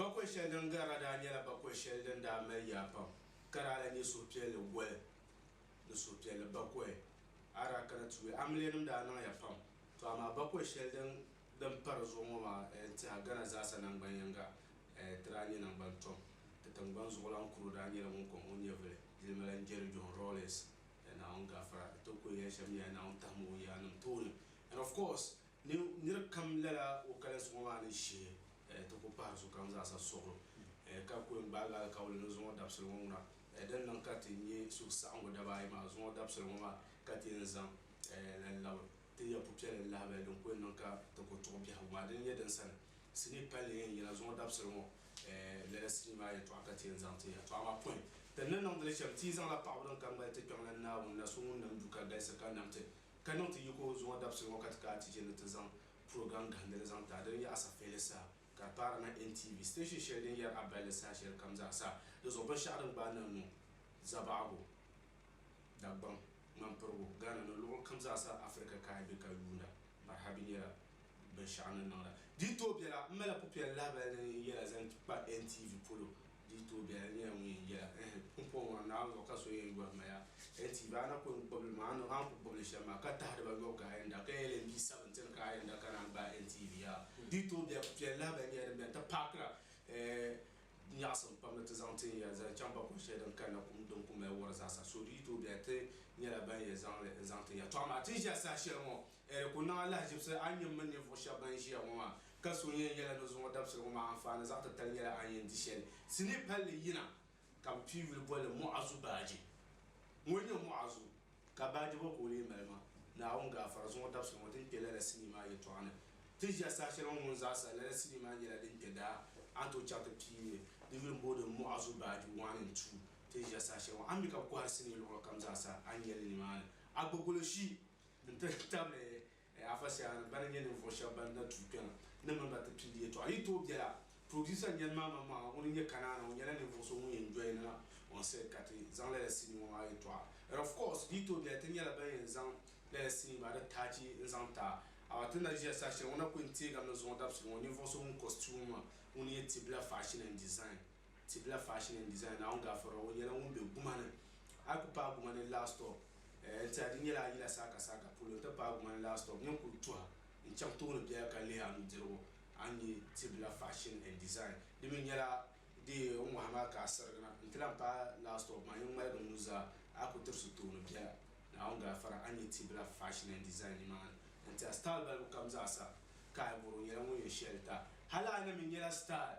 Bakɔi shɛli din garila daa nyɛla bakɔi shɛli din daa mali yaa pam ka daa lahi nyɛ suhupiɛlli goli ni suhupiɛlli bakɔi. A daa kana ti yuli, Amiliyanim daa niŋya pam, tɔ amaa bakɔi shɛli din din pari zuɣu ŋɔ maa n tiɛha Ghana zaasa nangban yiŋga ti daa nyɛ nangban tom. Ti tingbani zuɣulan kuro daa nyɛla ŋun kɔŋ o nyɛvili jilimala n-jeri John Rawlings ni Naawuni gafara di tokuli yɛli shɛm nyɛla Naawuni tahim o yaannim tooni and of course ni nir kam lala o kalinsi ŋɔ maa ni shihi ti ku pahiri sokam zaasa suɣulo ka kuli gbaagi alikauli ni zuŋɔ dabisili ŋɔ ŋuna din niŋ ka ti nya suhusaɣiŋgu daba ayi maa zuŋɔ dabisili ŋɔ maa ka ti yɛn zaŋ la labi Ti nya pupiɛlli ni lahabali din ku yɛn niŋ ka ti ku tuɣi biɛhigu maa dini n-nyɛ din sani sinii palli yɛn yina zuŋɔ dabisili ŋɔ lala sinii maa yɛltɔɣa ka ti yɛn zaŋ ti yɛltɔɣa maa pɔi ti ni niŋdi li shɛm ti yi zaŋla paɣibu din ka ŋmali ti Kpiɔŋlan Naawuni na so ŋun nam du ka galisi ka nam ti ka niŋ ti yiko zuŋɔ dabisili ŋɔ ka ti kaa ti chɛ ni ti zaŋ program gahindili zaŋ ti a dini n-nyɛ Asafeeli saha ka di paari na NTV station shɛli din yɛri a balli saha shɛlikam zaa sa di zuɣu binshɛɣu din gbaai niŋ niŋ Zabaɣigu Dagbaŋ ŋmanpirigu Ghana ni luɣu kam zaa sa Afirika ka a be ka yuunda m-pariha bɛ nyɛla binshɛɣu ni niŋda. Di yi tooi bela, m mali pupiɛl lahibali ni n yɛla zaŋ kpa NTV polo. Di yi tooi bela, di nyɛla ŋun yɛn yɛla, Ɛhɛ! N pɔhim a Naawuni zuɣu ka so yɛn yɔri ma yaa. NTV, a na ku yɛn kpibili ma, a ni ku kpibi li shɛm maa, ka tahiri ba yɔbu ka a yɛn da ka yɛli n bia sabigi ti ni ka a yɛn da ka naan gbaai NTV yaa. Di yi tooi bela, pupiɛl lahibali nyɛla din beni ti paakira, ɛɛ, Di nyaɣisim pam ni ti zaŋ tin ya zali chaŋ bakɔbi shɛli din kanna kum din ku mali wɔri zaasa. So di yi tooi bɛya, ti nyɛla ban ya zaŋ li n-zaŋ ti ya. Tɔ amaa ti ni ʒiya saha shɛli ŋɔ, a di ku niŋ a lahiʒibisi a ni nyɛ m mini ninvuɣ shɛb bɛn ʒiya ŋɔ maa, ka so yɛn yɛla ni zuŋɔ dabisili ŋɔ maa anfaani zaɣ titali nyɛla a ni yɛn di shɛli. Sinii palli yina ka bɛ pii yuli boli li Muɣazu Baaji. Ŋun nyɛ Muɣazu? Ka baajebo ka o lee mali ma, Naawuni gaafara zuŋɔ dabisili ŋɔ ti ni kpe lala sinii maa yɛtɔɣa ni. Ti ʒiya saha shɛli ŋɔ ŋun zaasa lala sinii maa nyɛla din kpe daa, a ni tooi chaŋ ti pii n-nyɛ di yuli m-booi di Muɣazu baaji wan and tuu. Ti ni ʒiya saha shɛli ŋɔ, a ni mi ka kohiri sinii luɣili kam zaasa a ni nya li nimaani. A gba goloshi n-ti tabili Afa Siah ni bani nyɛ ninvuɣu shɛba bani na tuui kpɛŋa ni mini ba ti pindi yɛltɔɣa. Yi tooi biɛla, Producer n-yɛli ma aman mɔɣu ŋuni n-nyɛ Kanaana, o nyɛla ninvuɣu so ŋun yɛn doya ni na on said ka ti zaŋ lala sinii ŋɔ maa yɛltɔɣa. And of course, yi tooi biɛla, ti nyɛla ban yɛn zaŋ lala sinii maa di taachi n-zaŋ ti a. Afa ti ni na ʒiya saha shɛli ŋɔ na ku yɛn teegami ni zuɣu dabisili ŋɔ ninvuɣu so ŋun costume ma ŋuni n-nyɛ Tibila Fashion and Design. Tibila Fashion and Design, Naawuni Gafurra, ŋɔ nyɛla ŋun be guma ni. A ku paai guma ni last stop, eh, n tiɛha di nyɛla a yila saaka saaka polo n ti paai guma ni last stop, nyin kuli tuha n chaŋ tooni biɛla ka lihi a nudirigu a ni nya Tibila Fashion and Design. Di mi nyɛla di n wahi maa ka a sirigi na n ti lahi paai last stop maa, nyin ŋmaligi n nuzaa a ku tirisi tooni biɛla, Naawuni Gafurra, a ni nya Tibila Fashion and Design nimaani n tiɛha style balibu kam zaasa. Kai bɔro nyɛla ŋun yɛn shɛlita, hali a na mi nyɛla style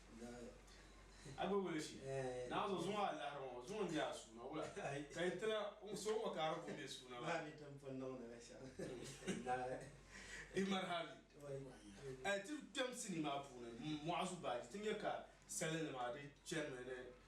A gba wuli shi naa zuɣu zuŋɔ a lahiri ŋɔ zuŋɔ n-nyɛ a suuna wula ka yi ti na so ŋɔ ka a di ku be suuna maa ni. Di mali hali a yi ti kpɛm sinii maa puuni mɔɣu zu baaji ti nya ka salinima di chanimi ni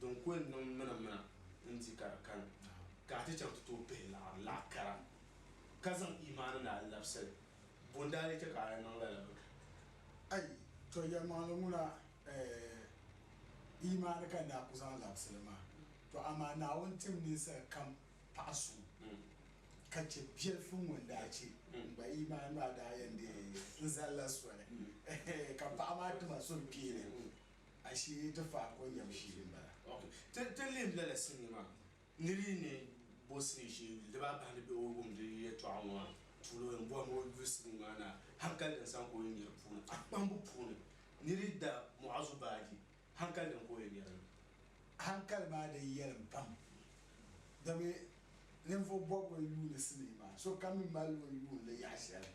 din ku yɛn niŋ mina mina n-di ka di kani ka a ti chaŋ ti tooi pihi laɣiri laɣ kara ka zaŋ imaani ni a labisili, bo n-daa lee chɛ ka a yɛn niŋ lala bɛ ka? Ayi, tɔ yɛlimaŋli ŋuna eeh, imaani ka n daa ku zaŋ labisili maa. Tɔ amaa Naawuni tim ninsal kam paɣ suŋ ka chɛ biɛlifu ŋ-ŋɔ n daa chɛ m ba imaani maa daa yɛn deei n zali la soli, ka paɣ maa ti ma suhukpeeni. Ashili ti fahi ko nyɛbu shee m-bala. Ok, ti lihim lala sinii maa ni di ni bo sinii shee yuli. Di baa bahi ni bɛ o wum di yɛtɔɣa ŋɔ maa tuuli o ni bɔhim o yuli sinii maa ni a hankali din saŋ ka o yi nya di puuni a kpambu puuni ni di da Mu'azu baaji hankali din ka o yi nya dini. Hankali maa di yɛlim pam domi ninvuɣ bɔbigu n-yuuni sinii maa sokam mi mali o yuuni li yaɣ'shɛli.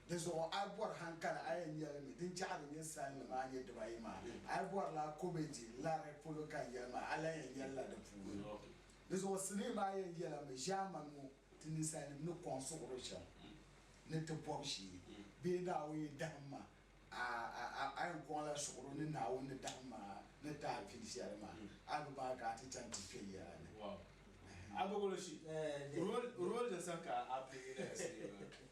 Di zuɣu a yi bɔri hankali a yɛn yɛli mi, din chɛɣiri ninsalnim maa nyɛ dibaayi maa. A yi bɔri la kɔmɛdi, lari, polo ka n yɛli maa, a lan yɛn yɛli la di puuni. Di zuɣu sinii maa yɛn yɛla mi, ʒiɛmani ŋɔ ti ninsalnim ni kɔŋ suɣiri shɛm ni ti bɔbi shee bee Naawuni yi dahim ma, a, a, a, a yɛn kɔŋ la suɣiri ni Naawuni ni dahim ma ni ti a pili shɛli maa, a bi baŋ ka a ti chaŋ ti kpe yɛla ni. Wow. A bɔgoloshi, role, role din sani ka a play la ya sinii maa.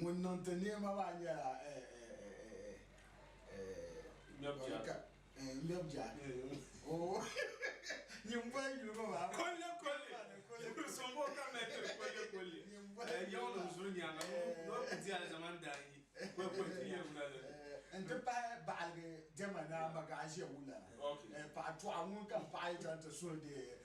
Ŋun niŋ ti neema maa nyɛla n-ti pahi baɣiligi diɛma ni a magaaʒiɛ wula la, paɣa tɔɣa ŋun ka paɣa yi chaŋ ti suhi deei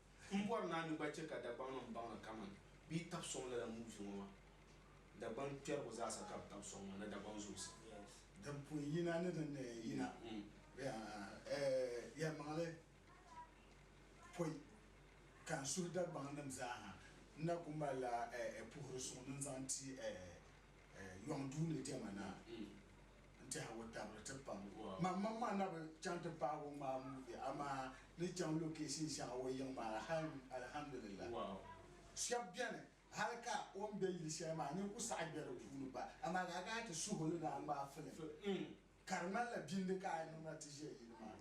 M bɔri ni a ni gba chɛ ka Dagbamnim baŋ li kaman bɛ yi tab sɔŋ lala muuvi ŋɔ maa. Dagbaŋ kpɛrigu zaasa ka bɛ tab sɔŋ maa ni Dagbaŋ Zoosim. Din pun yina ni din ni yina bɛ yɛlimaŋli pɔi ka n suhi Dagbaŋnim zaaha n na ku mali la puhiri suŋ ni n zaŋ ti Yɔŋ duu ni dɛma na. n-tɛhi o tabiri ti pam o. Maŋmaŋ maa na bi chaŋ ti paagi o ŋmaai muuvi amaa ni chaŋ location shɛŋa o yiŋ maa hal alhamdulillah. Shɛba beni hali ka o ni be yili shɛli maa nini ku saɣi be di puuni pa amaa ka a kana ti suhi o ni daa ŋmaai film ka di ŋmanila bindi ka a niŋ na ti ʒe yili maa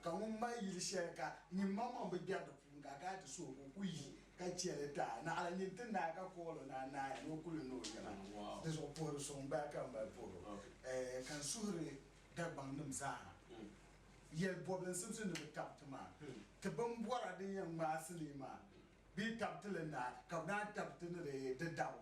ka ŋun mali yili shɛli ka nyini maŋmaŋ bi gbɛri di puuni ka a kana ti suhi o ka o ku yi ka chɛ li daa naɣila nyin ti naai ka kuɣil o naa naai ni o kuli ni o yɛla. Di zuɣu puhiri so m-bala ka m-mali puhir o, ka n suhiri Dagbaŋnim zaaha yɛl bɔbili n simsi ni bɛ tab ti maa ti bimbɔra din yɛn ŋmaai sinii maa bee tab ti li naai ka bɛ naan tab ti ni di dabo.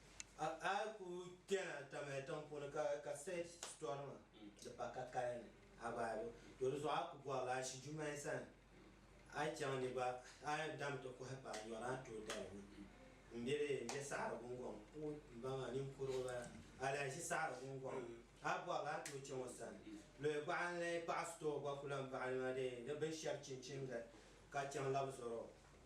A, a ku kpɛna tamaya tiŋ puuni ka, ka search sitorima di pa ka kaya ni a gbaai li. To di zuɣu a ku bɔrila a shi Jumayi sani a yi chaŋ ni gba a yɛn dami ti kɔhi paai nyɔri a ni tooi dali ni m be dee m be saɣiri gungɔŋ. O, m baŋ a ninkurugu n bala. A lahi ʒi saɣiri gungɔŋ. A bɔri la a ni tooi chaŋ o sani. Luhi baɣa n lahi kpaɣi sitɔɔ gba ku lahi baɣi ni maa dee ni binshɛb chinchini gari ka chaŋ labi zɔri o.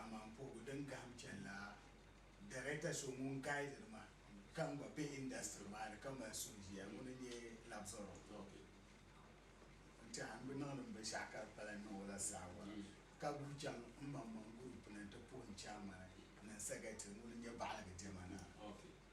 aman puhigu din gahim chani la, Darekta so ŋun gaidiri ma ka n gba be indasitiri maa ni ka mali suhuʒiya ŋuni n-nyɛ Labzoro Kloke. N tɛha n bi niŋdi m binshɛɣu ka di pala n niŋ o la zaawara ka guui chaŋ m maŋmaŋ gurupu ni nti puhi n chaamani Ninsegati ŋuni n-nyɛ baɣiligi diɛma naa.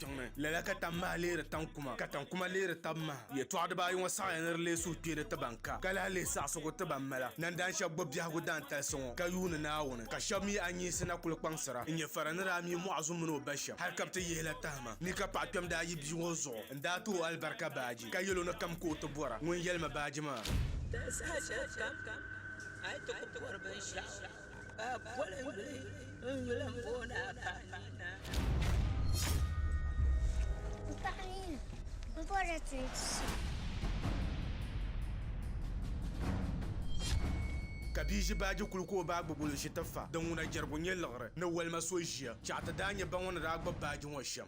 tiŋ ni. Lala ka tam maha leeri tam kuma, ka tam kuma leeri tab maha. Yɛtɔɣ dibaa ayi ŋɔ saɣiya ni di lee suhi kpeeri ti ban ka, ka lahi lihi saɣisigu ti ban mala. Nandaan shɛb gbubi biɛhigu daantalisi ŋɔ ka yuuni Naawuni, ka shɛb mi a nyihisi na kul kpaŋsira n-nyɛ fara ni daa mi mɔɣu zu min o ba shɛb hal ka bɛ ti yihi la tahima. Ni ka paɣ kpɛm daa yi bia ŋɔ zuɣu n-daa ti o alibarika baaji, ka yɛl o ni kam ka o ti bɔra ŋun yɛlimi baaji maa. Di saha shɛlikam a yi ti ku bɔri binshɛɣu. Ka poli n gili n yuli n booni Apaamina. Apaamina, m bɔrila ti ni ti so. Ka bia ʒi baaji kuli ka o baa gbubi o ʒi ti fa. Din ŋuna jɛrigu nyɛ liɣiri ni walima so ʒiya. Chɛɣu ti daa nyɛ ba ŋɔ ni daa gbubi baaji ŋɔ shɛm.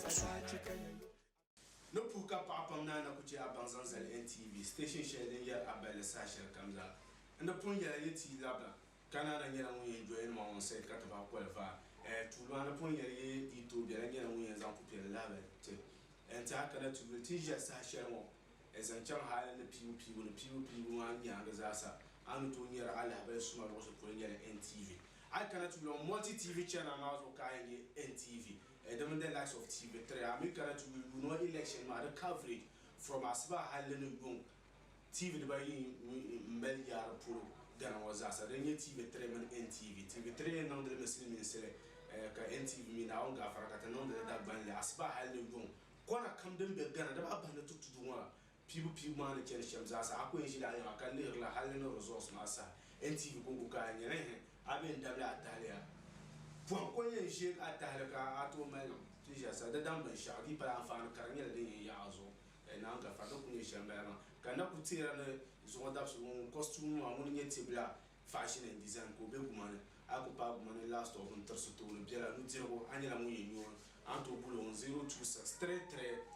ka suhu ku ka ya yo. Ni puhi ka paɣa pam naa na ku chɛ a baŋ zaŋ zali NTV station shɛli din yɛri a balli saha shɛli kam zaa. N ni pun yɛla yi ti yi labina ka naa na nyɛla ŋun yɛn join ma on set ka ti bahi qualify eh tuuli maa ni pun yɛli yi yi tooi bela nyɛla ŋun yɛn zaŋ pupiɛlli lahabali ti eh ti a kana ti yuli tin ʒiɛri saha shɛli ŋɔ eh zaŋ chaŋ hali ni piibu piibu ni piibu piibu maa nyaangi zaa sa a ni tooi nyari a lahabali suma luɣusi polo nyɛla NTV. A yi kana ti yuli a multi TV channel maa zuɣu ka a yɛn nya NTV. Edem in the likes of TV three a mi kana ti yuli yuuni o election maa di coverage from asibahi halli ni yuŋ TV diba ayi n mali yaari polo Ghana ŋɔ zaasa din nyɛ TV three mini NTV. TV three yɛn niŋdi li mi silimiinsili ka NTV mi Naawuni gaafara ka ti niŋdi li Dagbanli asibahi halli ni yuŋ kɔna kam din be Ghana dama a bahi ni ti tudu ŋɔ la Piibu piibu maa ni chani shɛm zaa sa, a ku yɛn ʒila a yiŋa ka lihiri la hal ni results maa saha. NTV Konko ka a nyɛla ehe, a bee n-dabili a tahili a pɔhim ka o yɛn ʒeeg a tahili ka a tooi mali niŋ? Tiʒa sa, di daŋ binshɛɣu di yi pali anfaani kara nyɛla din yɛn yaɣi a zuɣu eh, naan ka fari di ku nyɛ shɛm bala maa. Ka n na ku teera ni zuɣu dabisigu ŋɔ ŋun costume ŋɔ maa ŋuni nyɛ tibila fashion and design ka o be guma ni. A ku paai guma ni last of n-tirisi tooni biɛla nudirigu, a nyɛla ŋun yɛn nyooi a ni tooi guli o ŋun 026333.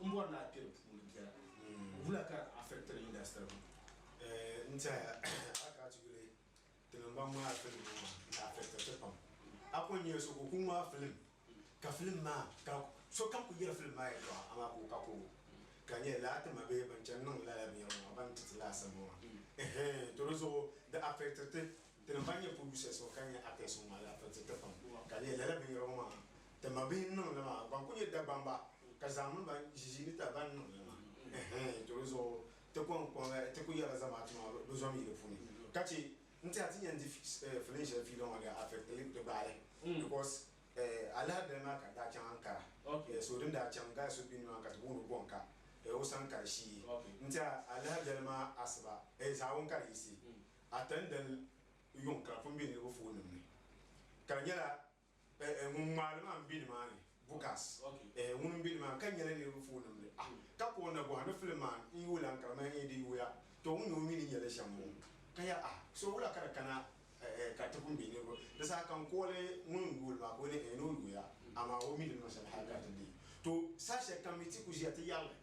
M bɔri ni a kpe di puuni biɛla wula ka di affectiri industry ŋɔ? Eeh n tɛhiya a kana ti yuli ti ni baŋ ŋmaai film ŋɔ maa di affectiri ti pam. A kuli nyala so ka o ku ŋmaai film ka film maa ka sokam kuli yɛli film maa yɛltɔɣa amaa ka o ka koobu ka di nyɛla lala ti ma bee ban chani niŋdi lala binyɛri ŋɔ maa ban ti ti laasabu ŋɔ maa eeh to di zuɣu di affectiri ti Ti ni va nya Pulusia suŋ ka nya Apia suŋ maa, laafeei ti ti pam. Ka lee lala binyɛra ŋɔ maa, ti mabihi ni niŋ li maa, ban kul nyɛ Dagbamba, ka zaŋ mini ba ʒiʒii ni ta ban niŋ li maa. Ɛhɛn, to di zuɣu, ti kɔŋ kɔŋ la, ti kul yɛla zamaatu maa bɛ zom yi di puuni. Ka chɛ n-ti a ti yɛn di filin shɛli fiila ŋɔ daa affect li di gbaali because alahidali maa ka n daa chaŋ Ankara, so din daa chaŋ guy so be ni maa ka ti booni o Bɔnka, o sani ka di shii. N-ti a alahidali maa asiba, zaawun ka di yiɣisi. ata n dali yuŋ ka pun be niriba foon nim ni ka di nyɛla ŋun ŋmaali maa n be nimaani Bukas ŋun n be nimaani ka nyɛla niriba foon nim ni ah ka ka o na bɔhi ni filim maa n yuui lan kara maya n yɛn di yuuya to ŋun nyɛ o mi ni nyɛli shɛm ŋɔ ka ya ah so wula ka di kana ka ti pun be niriba di saha ka n kooli ŋun n yuuli maa ka o ni ni o yuuya amaa o mi di nima shɛli hali ka ti di to saha shɛli kam mi ti ku ʒiya ti yɛrili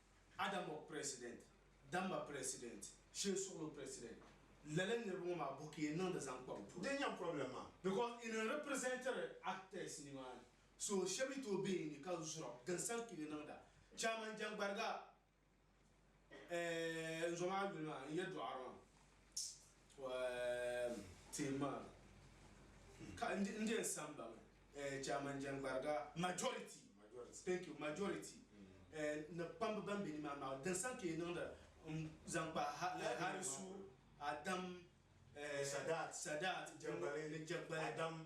Adamok president, Damba president, Shee Suɣulo president, lala niriba ŋɔ maa buki yen niŋdi zaŋ kpa bɛ puuni. Din nyɛ problem maa because yi ni representiri actors nimaani so sheba yi tooi be yi ni ka zura din san kpimi niŋda. Chairman Jangbariga eh n zo maa yuli maa n yɛduɣari maa. Poem team maa ka n n je n san baŋ eh, chairman jɛnkpariga majority thank you majority eh, ni kpambi ban be nimaa maa din san ka yi niŋda n zaŋ kpa ha eh, harisu adam eh, Sadat Sadat jɛngbali ni jɛgbali adam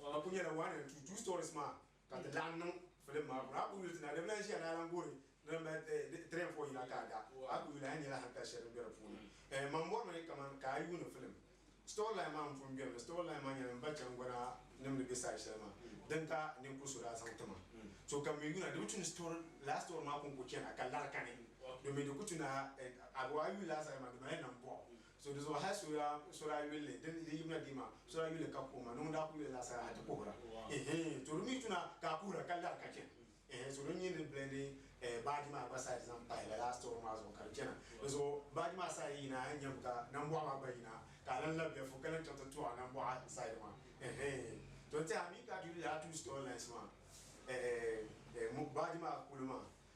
Ŋɔ kuli nyɛla one and two, two stories maa ka ti laɣim niŋ film maa puuni. A kuli yuli ti na di bi lahi ʒiya ni a lan goori di lan mali three and four yina ka a da, a kuli yuli a ni nyɛla hankali shɛli din be di puuni. Ɛɛh man bɔri mi kaman ka a yuuni film story line maa m-pun beni mi, story line maa nyɛla m ba chaŋgɔna nim ni be side shɛli maa din ka ninkur so daa zaŋ ti ma. So ka m mi yuuna di bi tu ni story lala story maa ku n-ku chana ka lari kani domin di ku tu ni a a yuli a zali maa di mali nambuɣu So di zuɣu hal sura sura yulli din din yibina dii maa sura yulli ka kuhima ni ŋun daa ku yuli laa sara ha ti kuhira ehe to di mi tuna ka kuhira ka lara ka chana ehe so di nyɛ ni blendi eh, baaji maa gba side zaŋ pahi lala store maa zuɣu ka di chana di zuɣu baaji maa side yina a nyam ka nambɔɣu maa gba yina ka a lan la bɛfu ka lan chaŋ ti tuɣa nambɔɣu side maa ehe to n teha mi ka ti yuli lala two store lines maa eh, eh, eh, mo- baaji maa kuli maa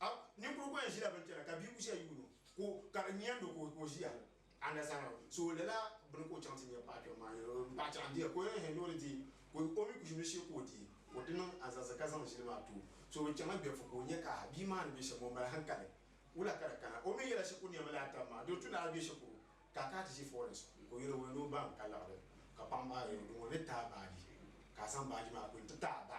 A, Ninkuri gba n ʒila bini kpɛna ka bia kushɛli yuun o ka o ka di nyandi o ka o ʒiya. A understand? So lala bini ka o chaŋ ti nya paɣa kpɛm maa yɛli o ni paɣa chaŋ diya ka o yɛli hɛn ni o di deei ka o o mi ku ʒimi shee ka o deei ka o ti niŋ azaza ka zaŋ ʒili maa ti o. So bɛ chaŋla Gbɛfu ka o nya ka bia maa ni be shɛm o mali hankali. Wula ka di kana? O mi yɛla shikuru ni yɛn mali a tab maa doo tun daa be shikuru ka ka ti ʒi forest ka o yɛli o ya ni o baŋ ka laɣiri ka paɣa maa yɛli o ni ŋɔ ni taai baaji ka a zaŋ baaji maa kpini ti taai ba.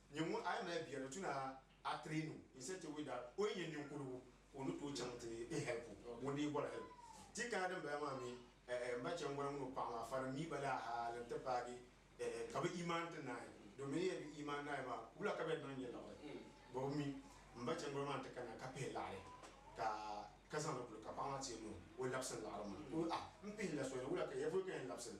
Nyɛ ŋun a yi mali bia ni tu ni a train o in such a way that o yi nyɛ ninkurugu ka o ni tooi chaŋ ti n help o ŋun dii bɔri help. Ti kana din bala maa mi n ba chɛŋ gɔna ŋun o paɣa maa fari n mi ba laa hal n ti paagi ka bɛ imaan ti naai domin di nyɛla bɛ imaan naai maa ka wula ka bɛ niŋ nyɛ liɣiri bɔ bɛ mi m ba chɛŋ gɔna maa nti kana ka pihi laɣiri ka ka zaŋ li kuli ka paɣa maa ti yɛn niŋ o labisi n liɣiri maa ka o ah m pihi la soli wula ka yɛli polo ka yɛn labisi li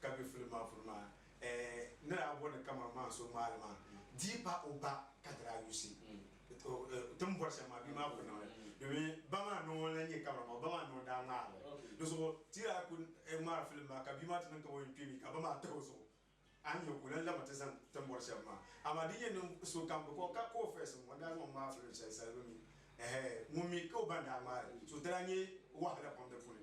ka be filibu maa puuni maa eh ni daa bɔni kaman maa so ŋmaali maa dii pa o ba ka di daa yusi ti ni bɔri shɛm maa bia maa kuli niŋ li domi ba maa nɔŋ n-lan nyɛ kamara maa o ba maa nɔŋ daa ŋmaari li di zuɣu ti daa kuli ŋmaari filibu maa ka bia maa ti niŋ kaman o yɛn kpee mi ka ba maa tahi o zuɣu a ni nya ka o lan lami ti zani ti ni bɔri shɛm maa amaa din yɛn niŋ so kam di ka ka o first ŋun daa zaŋ o ŋmaari filibu shɛli sali be mi eh ŋun mi ka o ba ni daa ŋmaari so di daa nyɛ wahala pam di puuni.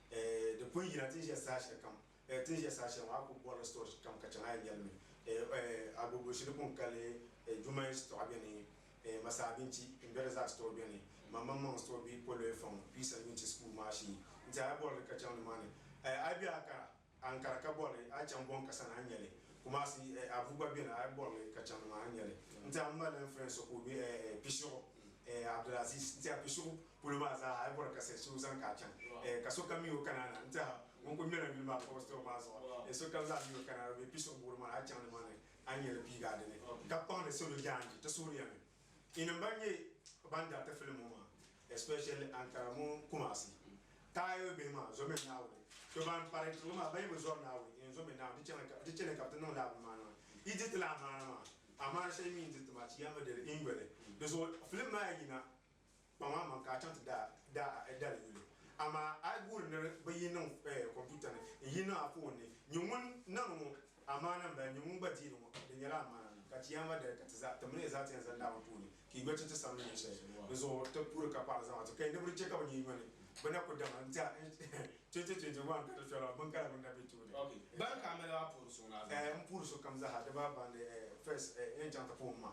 Eh, di pun yina ti ni ʒe saha shɛli kam. Eh, ti ni ʒe saha shɛli ŋɔ a ku bɔrila sitɔɣu kam ka chaŋ a yɛn nyɛli mi. Eh, eh, agogo shili ku ni kali eh, Jumain sitɔɣu beni, eh, Masa Abinci, Mbereza sitɔɣu beni, Mamammaŋ sitɔɣu be Poloe Fɔŋ, Pisa Nyunci School maa shee. N-ti a ya bɔrili ka chaŋ ni maa ni eh, a yi be a kara. Ankara ka bɔri li, a chaŋ bɔŋ ka sani a ni nya li, Kumasi eh, Abu gba beni a bɔri li ka chaŋ maa a ni nya li. N ti a m-ma lan friend so ka o be eh eh Pishigu eh Abdulaziz, n ti a Pishigu polo maa zaa ha a yi bɔri ka seh so zaŋ ka a chaŋ eh ka sokam mi o kana na, n ti a ŋun kuli mɛla yuli maa ka o store maa zuɣu eh sokam zaa mi o kana na o be Pishigu buɣili maa a chaŋ ni maa ni a ni nya li piigi a dini ka kpaŋdi salo jaanji ti suhuri ya ni. Inim ban nyɛ ban daa ti filim ŋɔ maa especially Ankara mini Kumasi taaya bihi maa zɔmi Naawuni. To ban pari tiŋ maa ban yi bi zɔri Naawuni iin zɔmi Naawuni ti chani ka bɛ ti niŋ lala bini maa niŋ a. Yi di ti la amaana maa, amaana shɛli mi yi ni di ti maa ti yɛn bi di li iin yoli. Di zuɣu filim maa yina. Kpaŋ a maŋ ka a chaŋ ti daa a dali yuli. Amaa a yi guuri ni bɛ yi niŋ kompiuta ni n-yi niŋ a foon ni, nyɛ ŋun niŋdi ŋɔ amaana m-bala, nyɛ ŋun gba deeri ŋɔ, di nyɛla amaana ni ka ti yɛn va dali ka ti zaa ti mini ya zaa ti yɛn zani daa ŋɔ puuni ka yi gba chɛ ti sani ni ninshɛli ni zuɣu ti puuri ka paɣiri zamaatu kaya ni bɛ di chɛ ka bɛ nyuya nyɔni bɛ na ku dama n-ti a 2021 ka ti fiɛra bin kala bini na be tooni. Bana ka a mali a puuri suŋ ni a zaŋ? M puuri sokam zaa ha di ba baŋ ni first n-yɛn chaŋ ti puhi m ma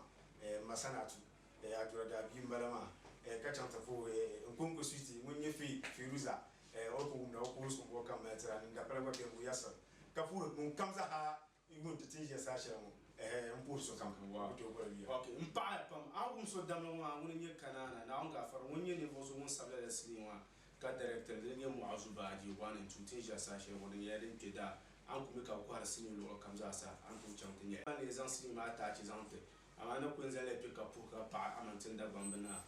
Masanaatu Eh, Adura daa bia m-bala maa eh, ka chaŋ ti vo eh, eh, Nkonko Switi ŋun nyɛ Fee, Feeruza eh, o ni ku wumda o koos kumbuɣu kam mali tira ni dapala gba bɛhigu Yasir ka puhiri ŋun kam zaha yuun ti ti n ʒiya saha shɛli ŋɔ eh, eh, m-puhiri sokam ka o ku tooi boli yuya. Ok, m paɣi ya pam. A wum so damligu maa ŋuni n-nyɛ Kanaana Naawuni Gaafara ŋun nyɛ ninvuɣu so ŋun sabila la sinii maa ka dɛrɛktiri din nyɛ Mu'azu Baaji one and two ti n ʒiya saha shɛli ŋɔ di nyɛla din kpe daa a ni ku mi ka bɛ kɔhiri sinii luɣili kam zaa sa a ni tooi chaŋ ti nyɛli. Ban leei zaŋ sinii maa taachi zaŋ ti Amaa na kul zali kpe ka puhi ka paɣi Amantin Dagbamb naa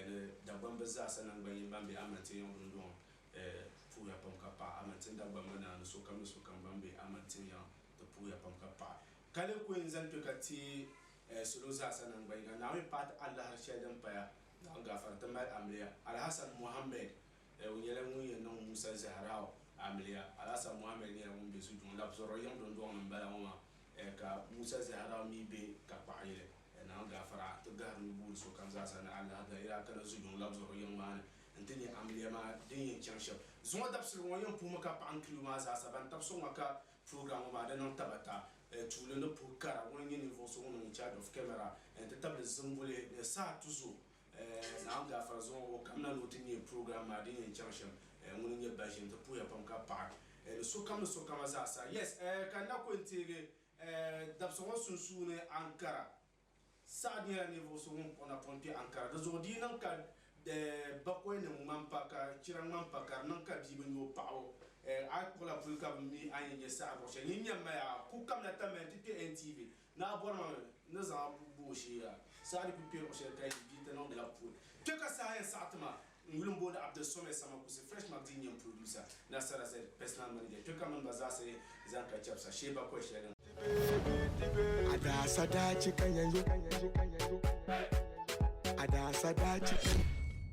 ni Dagbamb zaasa naŋgbanyin ban be Amantin Yaŋ dundɔŋ puhiya pam ka paɣi Amantin Dagbamb naa ni sokam ni sokam ban be Amantin Yaŋ ti puhiya pam ka paɣi. Ka lee kul zali kpe ka ti salo zaasa naŋgbanyiŋa Naawuni paati alahiri shɛli din paya Naawuni gaafara ti mali amiliya. Alhassan Mohammed O nyɛla ŋun yɛn niŋ Musa Zahrau amiliya. Alasan Mohammed nyɛla ŋun be zujuŋ labisirili yiŋ dondɔŋ ni m-bala ŋɔ maa, ka Musa Zahrau mi be tankpaɣuyili Naan Gaafara ti gahiri ni booni sokam zaa sa ni Allaah dali yaa kana zujuŋ labisirili yiŋ maa ni nti nya amiliya maa din yɛn chaŋ shɛm. Zuŋɔ dabisili ŋɔ yɛn puhimi ka paɣa n-kili o maa zaa sa. Ban tabisi o ŋɔ ka program ŋɔ maa di niŋ tabata tuuli ni puhi kara. Ŋuni n-nyɛ ninvuɣ so ŋun niŋ in charge of camera nti tabili zimbuli ni saha tuzo Eh, Naawuni gaafara zuŋu o kamina ni o ti neei program maa din yɛn chaŋ shɛm. Eh, ŋuni n-nyɛ Baʒim, ti puhiya pam ka paɣi eh, ni sokam ni sokama zaa sa. Yes, eh, ka n na ku yɛn teegi eh, dabisa ŋɔ sunsuuni Ankara. Saad nyɛla ninvuɣu so ŋun kpuɣi napɔŋ kpe Ankara. Di zuɣu di yi niŋ ka eh, bakɔi nim ŋmani pa, ka chira ŋmani pa, ka di niŋ ka bia bi nya o paɣa o eh, a yi kpuɣila puli ka bi mi a ni yɛn nyɛ Saad luɣi shɛli. Nyin nyɛ m ma ya, a ku kamina tamya nti kpe NTV, Naa bɔrimi n ni zaŋ a bua gba o sheei a saha di ku kpɛri o shɛli ka yi di ti niŋ di la puuni. Kpe ka saha yɛn saɣiti ma n yuli n booni Abdul Somɛ Sama Kusi Fresh Magazine n nyɛ n producer, Nasara Z, personal manager. Kpe ka mini ba zaa sa yɛn zani ka chɛbisi a sheei ba kɔhi shɛli n. A daa sa daa chɛ ka nya yo. A daa sa daa chɛ ka.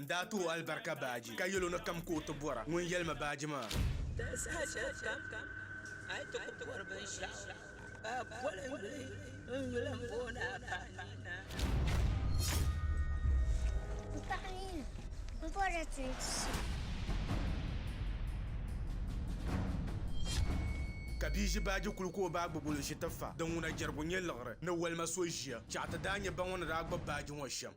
N daa ti o alibarika baaji, ka yɛl o ni kam ka o ti bɔra ŋun yɛli ma baaji maa. Di saha shɛli kam a yi ti ku bɔri binshɛɣu, ka a boli n gili n yuli m bo ni a ka a nina. N paɣa nina, m bɔrila ti ni ti so. Ka bia ʒi baaji kuli ka o ba gbubi o li ʒi ti fa. Din ŋuna jɛrigu nyɛ liɣiri ni walima so ʒiya. Chɛɣu ti daa nyɛ ba ŋɔ ni daa gbubi baaji ŋɔ shɛm.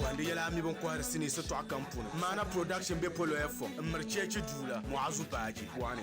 Bondi yɛla a mi bin kɔhiri sinii sitɔɣu kam puuni. Maana Production be Poloya Fom m-miri cheechi duu la Muazu Baaji buɣa ni.